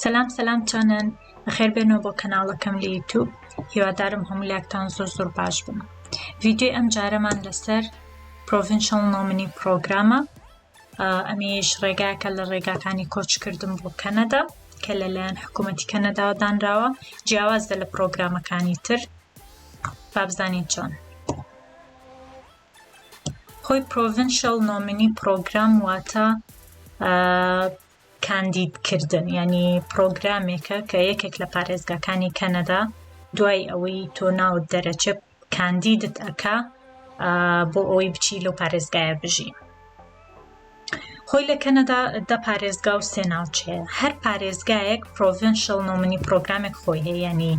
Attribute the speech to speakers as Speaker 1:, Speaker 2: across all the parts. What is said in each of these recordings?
Speaker 1: سەلام سەلام چۆنن بەخێر بێنەوە بۆ کەناڵەکەم لە یوتوب هیوادارم هەموو لاکتان زۆر زۆر باش بن ڤیددیوی ئەم جارەمان لەسەر پرۆڤنشڵ نۆمنی پرۆگرامە ئەمیش ڕێگاکە لە ڕێگاکانی کۆچکردن بۆ کەنەدا کە لەلایەن حکوومەتی کەنەداوە دانراوە جیاوازە لە پرۆگرامەکانی تر بابزانین چۆن خۆی پرۆڤینشەڵ نۆمینی پرۆگرام واتە کاندیدکردن ینی پرۆگرامێکە کە یەکێک لە پارێزگاکانی کەنەدا دوای ئەوەی تۆ ناوت دەرەچێ کاندیدت ئەکا بۆ ئەوەی بچی لەو پارێزگایە بژی خۆی لە کەنەدا دە پارێزگا و سێ ناوچەیە هەر پارێزگایەک پرۆڤنشل نۆمنی پرۆگرامێک خۆی هەیە ینی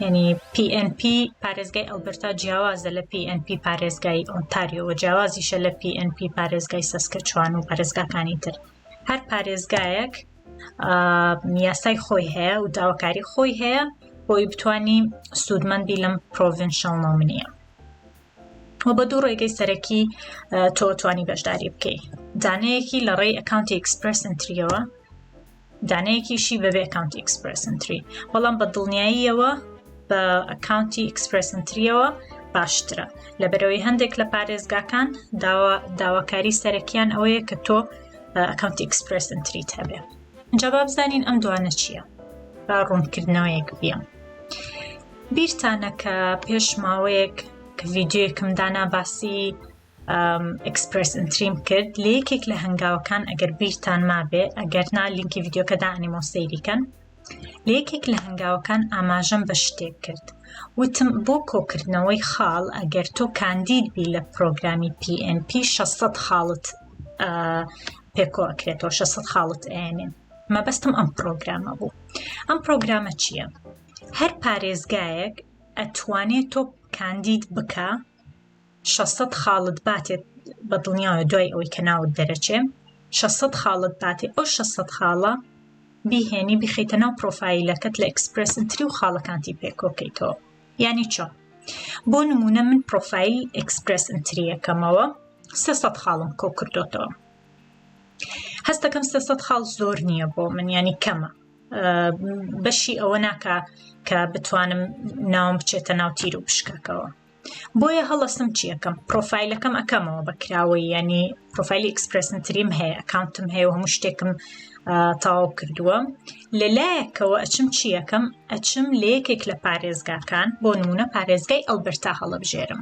Speaker 1: ینی PNP پارێزگای ئەلبرتا جیاوازە لە PNP پارێزگای ئۆنتاریۆوە جیاوازیشە لە PNP پارێزگای سەسکە چوان و پارێزگاکانی تر هەر پارێزگایەک یاسای خۆی هەیە و داواکاری خۆی هەیە بۆی بتانی سوودمەندی لەم پرۆڤنشل نۆمنیە وە بە دوو ڕێگەی سەرەکی تۆ توانی بەشداری بکەی دانەیەکی لە ڕێی ئەکاونتی ئەکسپرسنتریەوە دانەیەکیشی بەبێ ئەکاونتی ئەکسپرسنتری بەڵام بە دڵنیاییەوە بە ئەکاونتی ئەکسپرسنتریەوە باشترە لەبەرەوەی هەندێک لە پارێزگاکان داواکاری سەرەکیان ئەوەیە کە تۆ ئەکاونتی ئەکسپرسنتریت هەبێ جواب زانین ئەم دوانە چییە؟ با ڕوونکردنەوەیەک بیان. بیرتانە کە پێش ماوەیەک کە ڤیددیوەکم دانا باسی ئەکسپرس ئەتریم کرد لە یەکێک لە هەنگاوەکان ئەگەر بیرتان مابێ ئەگەر نا لینکی ڤیددیوکە دانیمەوە سەیریکەن لە یەکێک لە هەنگاوەکان ئاماژەم بە شتێک کرد وتم بۆ کۆکردنەوەی خاڵ ئەگەر تۆ کاندید بی لە پرۆگرامی PNP 600 خاڵت پێکۆکرێتەوە 600 خاڵت ئەێنێ مەبەستم ئەم پرۆگرامە بوو ئەم پرۆگرامە چییە؟ هەر پارێزگایەک ئەتوانێ تۆ کاندید بکا شەسەد خاڵت باتێ بە دڵنیایە دوای ئەوەی کە ناوت دەرەچێ شەسەد خاڵت باتێ ئەو شەسەد خاڵە بیهێنی بخیتە ناو پرۆفایلەکەت لە ئەکسپرس ئنتری و خاڵەکانتی پێکۆکەیتەوە یعنی چۆ بۆ نمونە من پرۆفایل ئەکسپرس ئنتریەکەمەوە سێ سەد خاڵم کۆ کردوتەوە هەستەکەم سێ سەد خاڵ زۆر نییە بۆ من ینی کەمە بەشی ئەوە ناکا کە بتوانم ناوم بچێتە ناو تیر و پشکەکەوە بۆیە هەڵستم چیەکەم پرۆفایلەکەم ئەەکەمەوە بەکراوەی ینی پرۆفایلی ئەکسپرسن تریم هەیە ئەکاونتم هەیە و هەموو شتێکم تاو کردووە لە لایەکەوە ئەچم چیەکەم ئەچم لە یەکێک لە پارێزگاکان بۆ نمونە پارێزگای ئەلبەرتا هەڵبژێرم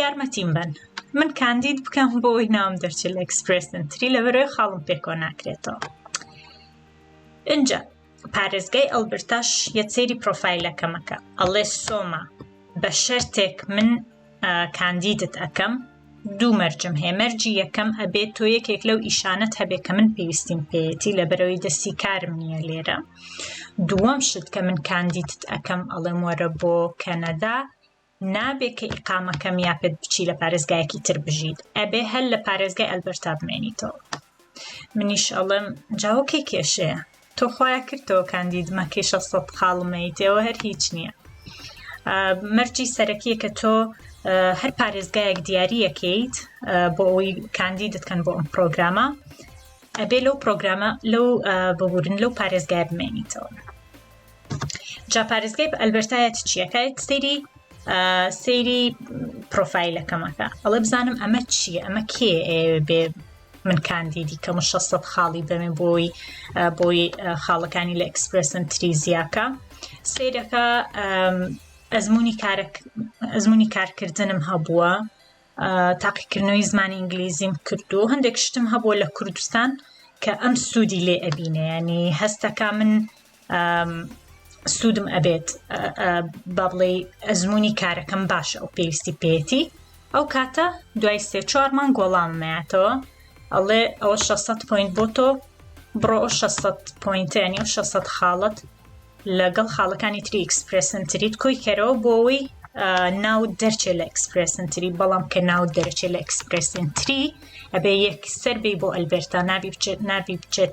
Speaker 1: یارمەتیم بەن من کاندید بکەم بۆی ناوم دەرچێت لە ئەکسپرسنتری لە بەرەوەی خاڵم پێکۆ ناکرێتەوە اینجا پارێزگای ئەلبرتاش یە سێری پرۆفایلەکەمەکە ئەڵێ سۆما بە شەرتێک من کاندیدت ئەەکەم دوو مەرجم هەیە مەرجی یەکەم ئەبێت تۆ یەکێک لەو ئیشانەت هەبێ کە من پێویستیم پێیەتی لە بەرەوەی دەستی کارم نییە لێرە دووەم شت کە من کاندیدت ئەەکەم ئەڵێم وەرە بۆ کەنەدا نابێ کە ئیقامەکەم یا پێت بچی لە پارێزگایەکی تر بژیت ئەبێ هەر لە پارێزگای ئەلبەرتا بمێنیتەوە منیش ئەڵێم جاوکێ کێشەیە تۆ خۆیا کردەوە کاندید مەکەی 600 خاڵم مەیت ئێوە هەر هیچ نییە مەرجی سەرەکیە کە تۆ هەر پارێزگایەک دیارریەکەیت بۆ ئەوی کاندیدت کەن بۆ ئەم پرۆگرامە ئەبێ لەو پرۆگرامە لەو ببورن لەو پارێزگای بمێنیتەوە جا پارێزگای ئەلبەرتایەت چیەکەیت سری سەیری پرۆفایلەکەمەکە ئەڵێ بزانم ئەمە چییە ئەمە کێ بێ من کاندیدی کەم و 600 خاڵی دەمێ بۆی بۆی خاڵەکانی لە ئەکسپرسن تریزیاکە سیرەکە ئەزمموی کارەک ئەزمموی کارکردنم هەبووە تاقیکردنەوەی زمانی ئینگلیزیم کردو هەندێک شتم هەبووە لە کوردستان کە ئەم سوودی لێ ئەبینێ ینی هەستەکە من سوودم ئەبێت با بڵێ ئەزمموی کارەکەم باشە ئەو پێویستی پێێتی ئەو کاتە دوای سێ چوارمان گۆڵاممەیەتەوە ئەڵێ ئەوە 600 پوینت بۆ تۆ بڕۆ 600 پوینتیانی و 600 خاڵت لەگەڵ خاڵەکانی تری ئەکسپرسن تریت کۆی کەرەوە بۆەوەی ناو دەرچێت لە ئەکسپرسن تری بەڵام کە ناو دەرچێت لە ئەکسپرسن تری ئەبێ یەک سەر بی بۆ ئەلبرتا نابی بچێت نابی بچێت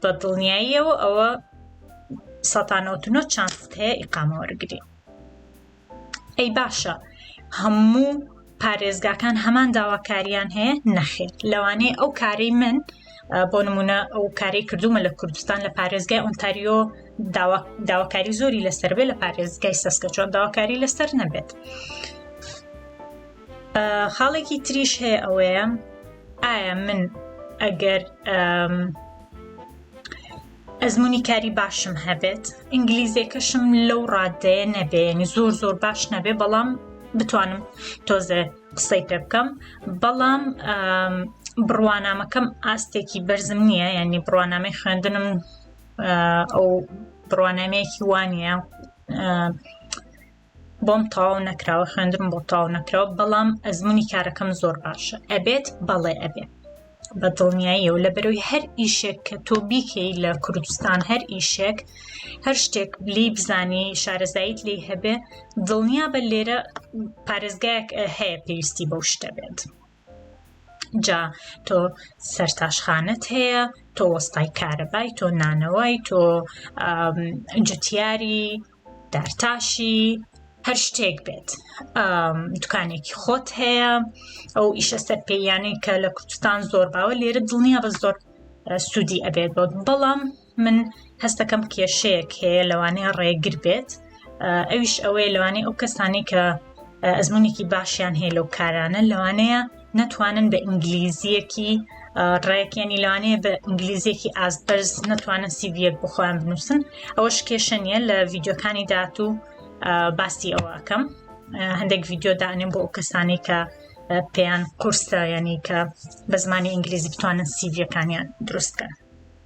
Speaker 1: بە دڵنیاییەوە ئەوە سەتانەوتنۆ چانست هەیە ئیقامە وەرگری ئەی باشە هەموو پارێزگاکان هەمان داواکاریان هەیە نەخێت لەوانەیە ئەو کاری من بۆ نمونە ئەو کاری کردومە لە کوردستان لە پارێزگای ئۆنتاریۆ داواکاری زۆری لەسەر بێ لە پارێزگای سەسکە چۆن داواکاری لەسەر نەبێت. خاڵێکی تریش هەیە ئەوەیە ئایا من ئەگەر ئەزمموی کاری باشم هەبێت ئینگلیزیەکەشم لەو ڕادەیە نەبێنی زۆر زۆر باش نەبێ بەڵام بتوانم تۆزێ قسەی پێ بکەم بەڵام بڕوانامەکەم ئاستێکی بەرزم نییە یعنی بڕوانامەی خوێندنم ئەو بڕوانامەیەکی وانە بۆم تەواو نەکراوە خوێندنم بۆ تەواو نەکراوە بەڵام ئەزمونی کارەکەم زۆر باشە ئەبێت بەڵێ ئەبێت بە دڵنیاییە و لە بەرەوەی هەر ئیشێک کە تۆ بیکەی لە کوردستان هەر ئیشێک هەر شتێک لی بزانی شارەزاییت لی هەبێ دڵنیا بە لێرە پارێزگایەک هەیە پێویستی بەو شتە بێت. جا تۆ سەرتاشخانەت هەیە تۆ وەستای کارەبای تۆ نانەوەی تۆ جوتیاری دارتاشی هەر شتێک بێت دوکانێکی خۆت هەیە ئەو ئیشە سەر پێیانەی کە لە کوردستان زۆر باوە لێرە دڵنیا بە زۆر سوودی ئەبێت بۆت بەڵام من هەستەکەم کێشەیەک هەیە لەوانەیە ڕێگر بێت ئەویش ئەوەیە لەوانەیە ئەو کەسانی کە ئەزمونێکی باشیان هەیە لەو کارانە لەوانەیە نەتوانن بە ئینگلیزیەکی ڕێکیانی لەوانەیە بە ئینگلیزیەکی ئازبەرز نەتوانن سیڤەک بخۆیان بنووسن ئەوە شکێشە نیە لە ڤیددیوکانی داات و باسی ئەوەکەم هەندێک ڤیددیو دانێن بۆ ئەو کەسانی کە پێیان قورسە ینی کە بە زمانی ئینگلیزی بتوانن سیڤەکانیان دروستکەن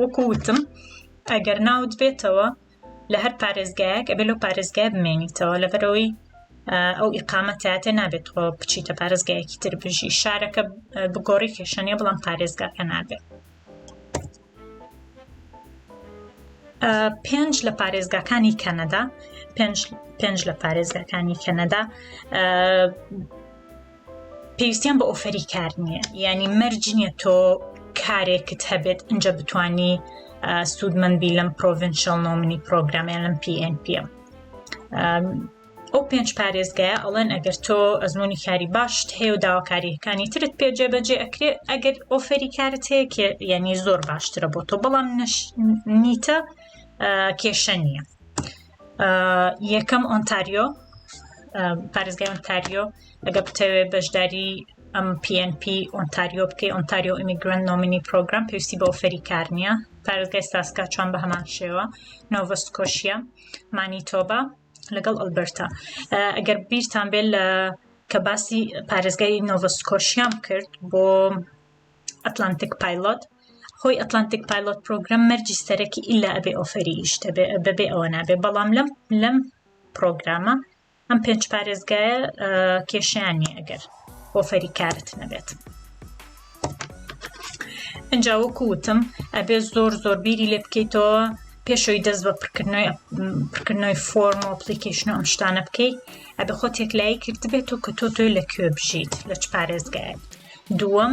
Speaker 1: وەکو وتم ئەگەر ناوت بێتەوە لە هەر پارێزگایەک ئەبێ لەو پارێزگای بمێنیتەوە لەبەرەوەی ئەو ئیقامەتاتێ نابێت خۆ بچیتە پارێزگایەکی تر بژی شارەکە بگۆڕی کێشەنە بڵام پارێزگاکە نابێت پێنج لە پارێزگاکانی کەنەدا پێنج لە پارێزگاکانی کەنەدا پێویستیان بە ئۆفەری کار نییە یعنی مەرج نییە تۆ کارێکت هەبێت ئەجا بتانی سوودمەندبی لەم پرۆڤنشل نۆمنی پرۆگرامیان لەم PNP ئەو پێنج پارێزگایە ئەڵێن ئەگەر تۆ ئەزمموی کاری باشت هەیە و داواکاریەکانی ترت پێجێ بەجێ ئەکرێ ئەگەر ئۆفەری کارت هەیە یعنی زۆر باشترە بۆ تۆ بەڵام نیتە کێشە نییە یەکەم ئۆنتاریۆ پارێزگای ئۆنتاریۆ ئەگەر بتەوێت بەشداری ئەم PNP ئۆنتاریۆ بکەی ئۆنتاریۆ ئیمیگرنت نۆمینی پرۆگرام پێویستی بە ئۆفەری کار نییە پارێزگای ساسکاچوان بە هەمان شێوە نۆڤستکۆشیە مانیتۆبا لەگەڵ ئەلبەرتا ئەگەر بیرتان بێت لە کە باسی پارێزگای نۆڤستکۆشیان کرد بۆ ئەتلانتیک پایلۆت خۆی ئەتلانتیک پایلۆت پرۆگرام مەرجی سەرەکی ئللا ئەبێ ئۆفەری ئیشتە بەبێ ئەوە نابێ بەڵام لەم لەم پرۆگرامە ئەم پێنج پارێزگایە کێشیان نیە ئەگەر ئۆفەری کارت نەبێت. ئەجا وەکو وتم ئەبێ زۆر زۆر بیری لێ بکەیتەوە پێشەوەی دەست بە پرکردنەوەی پرکردنەوەی فۆرم و پلیکیشن و ئەم شتانە بکەیت ئەبێ خۆ تێکلایی کردبێت و کە تۆ تۆی لە کوێ بژیت لە چ پارێزگایت دووەم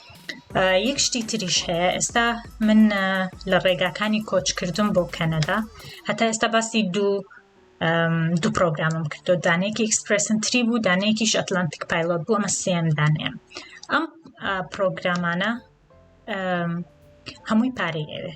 Speaker 1: یەک شتی تریش هەیە ئێستا من لە ڕێگاکانی کۆچکردم بۆ کەنەدا هەتا ئێستا باسی دوو دوو پرۆگرامم کردو دانێکی ئەکسپرسن تری بوو دانێکیش ئەتلانتیک پایلۆت بوو ئەمە سێم دانێم ئەم پرۆگرامانە هەمووی پارەی ئەوێ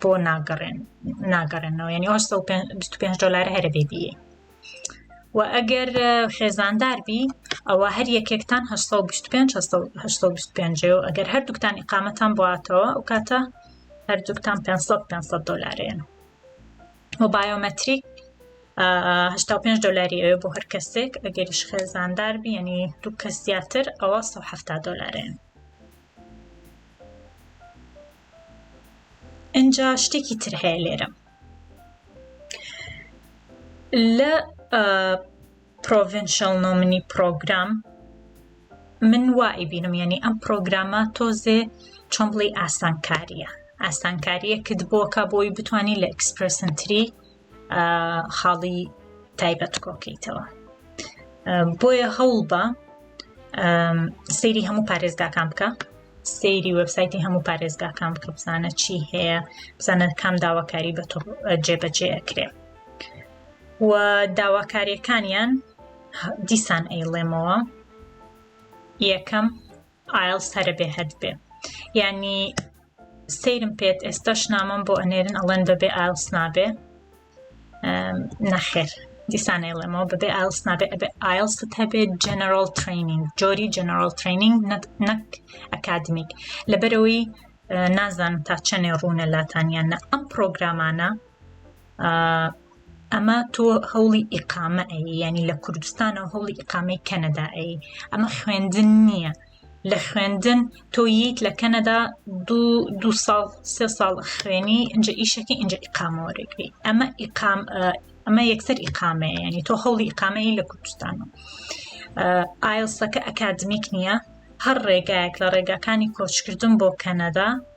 Speaker 1: بۆ ناگەڕێن ناگەڕێنەوە یعنی ئەو 25 دلار هەرە بێبیە و ئەگەر خێزاندار بی ئەوە هەر یەکێکتان 25 و ئەگەر هەردووکتان ئقامەتان باتەوە ئەو کاتە هەردووکتان 500 دلارێن و بایۆمەتریک 5 دلاری ئەوێ بۆ هەر کەسێک ئەگەریش خێزاندار بیەنی دوو کەس زیاتر ئەوە 1970 دلارێن ئینجا شتێکی تر هەیە لێرە لە پرۆڤنشل نۆمنی پرۆگرام من وای بینم یعنی ئەم پرۆگرامە تۆزێ چۆن بڵی ئاسانکاریە ئاسانکاریەکت بۆکە بۆی بتانی لە ئەکسپرسنتری خاڵی تایبەت کۆکەیتەوە بۆیە هەوڵ بە سەیری هەموو پارێزگاکان بکە سەیری وەبسایتی هەموو پارێزگاکان بکە بزانە چی هەیە بزانە کام داواکاری بە جێبەجێ ئەکرێ و داواکاریەکانیان دیسان ئەیڵێمەوە یەکەم ئایڵس هەرە بێ هەد بێ یعنی سەیرم پێت ئێستاش نامەم بۆ ئەنێرن ئەڵێن بەبێ ئایلس نابێ نەخێر دیسانەی ڵێمەوە بەبێ ئایلس نابێ ئەبێ ئایلست هەبێت جەنەرال ترینینگ جۆری جەنەرال ترینینگ نەک ئەکادمیک لەبەرەوەی نازانم تا چەنێ ڕوونە لاتانیانە ئەم پرۆگرامانە ئەمە تۆ هەوڵی ئیقامە ئەی یعنی لە کوردستانە و هەوڵی ئیقامەی کەنەدا ئەی ئەمە خوێندن نییە لە خوێندن تۆ ییت لە کەنەدا دو ساڵ سێ ساڵ خوێنی ئەجا ئیشەکە ئەجا ئیقامەوەێکری ئەمە ئیقام ئەمە یەکسەر ئیقامەیە ینی تۆ هەوڵی ئیقامەی لە کوردستانە ئایلسەکە ئەکادمیک نییە هەر ڕێگایەک لە ڕێگاکانی کۆچکردن بۆ کەنەدا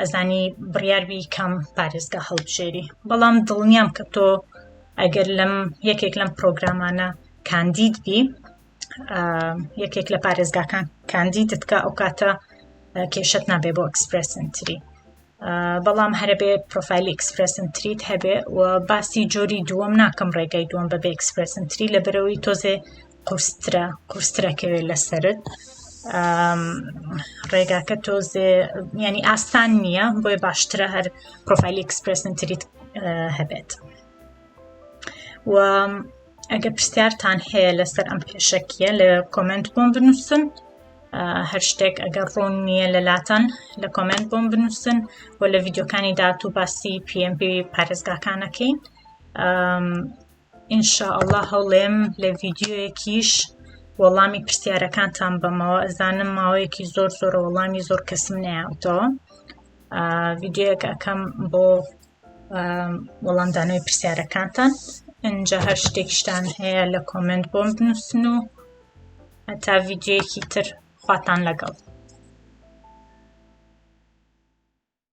Speaker 1: ئەزانی بڕیاربی کام پارێزگا هەڵبژێری بەڵام دڵنیام کە تۆ ئەگەر لەم یەکێک لەم پرۆگرامانە کاندید بی یەکێک لە پارێزگاکان کاندیدت کە ئەو کاتە کێشت نابێ بۆ ئەکسپرسنتری بەڵام هەرەبێ پرۆفایلی ئەکسپرسن تریت هەبێ و باسی جۆری دووەم ناکەم ڕێگای دووەم بەبێ ئەکسپرسن تری لە بەرەوەی تۆزێ قورسترە قورسترەکەوێت لەسرت ڕێگاکە تۆزێ ینی ئاسان نییە بۆی باشترە هەر پرۆفایلی ئەکسپرسن تریت هەبێت و ئەگە پرسیارتان هەیە لەسەر ئەم پێشەکیە لە کۆمنت بۆم بنووسن هەر شتێک ئەگەر ڕوون نییە لە لاتان لە کۆمنت بۆم بنووسن و لە ڤیددیوکانی داات و باسی PMP پارێزگاکانەکەین ان شاء اللە هەوڵێم لە ڤیدیۆیەکیش وەڵامی پرسیارەکانتان بەمەوە ئەزانم ماوەیەکی زۆر زۆر وەڵامی زۆر کەسم نەیاوتەوە ڤیدیۆیەک ئەەکەم بۆ وەڵامدانەوەی پرسیارەکانتان ئەجا هەر شتێکشتان هەیە لە کۆمنت بۆم بنووسن و هەتا ڤیددیوەکی تر خواتان لەگەڵ